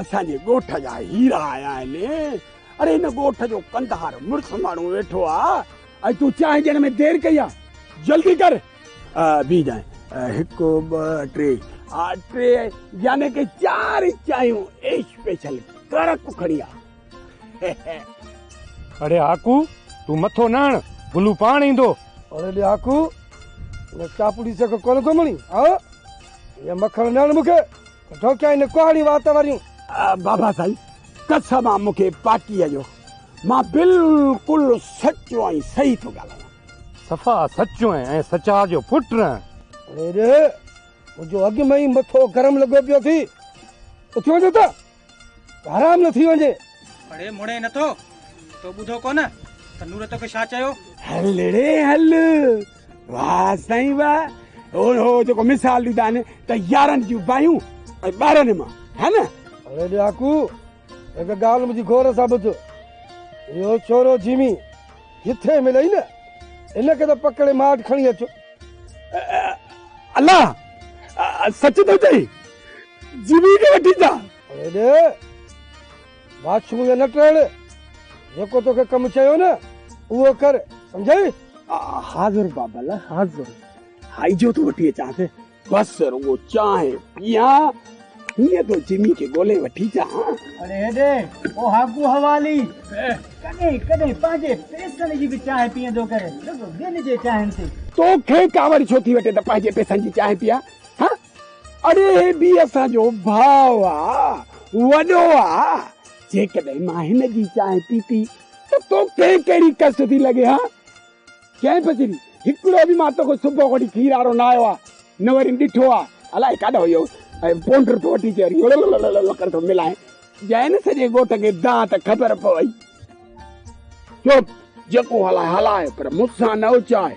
اسان جي ڳوٺ جا هيرا آيا آهن اڙي هن ڳوٺ جو ڪنڌار مڙس ماڻهو ويٺو آ ۽ تون چانهه ڏيڻ ۾ دير ڪئي آ جلدي ڪر بي جانهه هڪ ٻه ٽي آ ٽي يعني ڪي چار چانهيون ايش پيشل ڪڙڪ کڻي آ اڙي آڪو تون مٿو نه هڻ گلو پاڻ ايندو اڙي آڪو چاپڙي سڪ ڪونه ٿو مڻي ها يا مکڻ نه مونکي ڍوڪيا هن ڪهڙيون وات وريون. بابا سائين قسم آ مون کي پارٽيء جو مان بلڪل سچو ۽ صحيح ٿو ڳالهايان. صفا سچو ۽ سچار جو پٽ رهه. اڙي ري منهنجو اڳ ۾ ئي مٿو گرم لڳو پيو ٿي اٿي وڃ ته حرام نه ٿي وڃي. اڙي مڙي نٿو تو ٻڌو ڪونه ته نور توکي ڇا چيو. هل اڙي هل. واه سائين واه اهو جيڪو مثال ڏيندا آهن ته يارن جون باهيون ۽ ٻارن مان ها نه اڙي ڏاڪو هڪ ڳالهه منهنجي غور سان ٻڌ اهو چورو جيمي جٿي ملئي نه ان کي ته پڪڙي ماٺ کڻي اچو الله سچ ٿو چئي جيمي کي وٺي اچان اڙي بادشاهه جو نه ٽڙ، جيڪو توکي ڪم چيو نه اهو ڪر، سمجهيئي؟ حاضر بابل حاضر، هائي جو ٿو وٺي اچان سي. بس رڳو چانهه پيئان، هينئن ٿو جمي کي ڳولي وٺي چان. اڙي هيڏي او هاڪو حوالي، ڪڏهن ڪڏهن پنهنجي پيسن جي به چانهه پيئندو ڪر، رڳو ٻين جي چانهن تي. توکي ڪاوڙ ڇو ٿي وٺي ته پنهنجي پيسن جي چانهه پيئان، هان؟ اڙي هي به اسان جو ڀاء آ، وڏو آ، جيڪڏهن مان هن جي چانهه پيتي ته توکي ڪهڙي ڪس ٿي لڳي ها؟ چيائين پسري، هڪڙو به مان توکي صبح کان وٺي کير وارو نه آيو آ، نه وري ڏٺو آ، الائي ڪاڏانهن ويو ۽ پونڊر ٿو وٺي چي وري ڙلللللل ڪري ٿو ملائين. جئن سڄي ڳوٺ کي دانهن ته خبر پوي. چپ! جيڪو هلائي هلائي پر مون سان نه اچائي.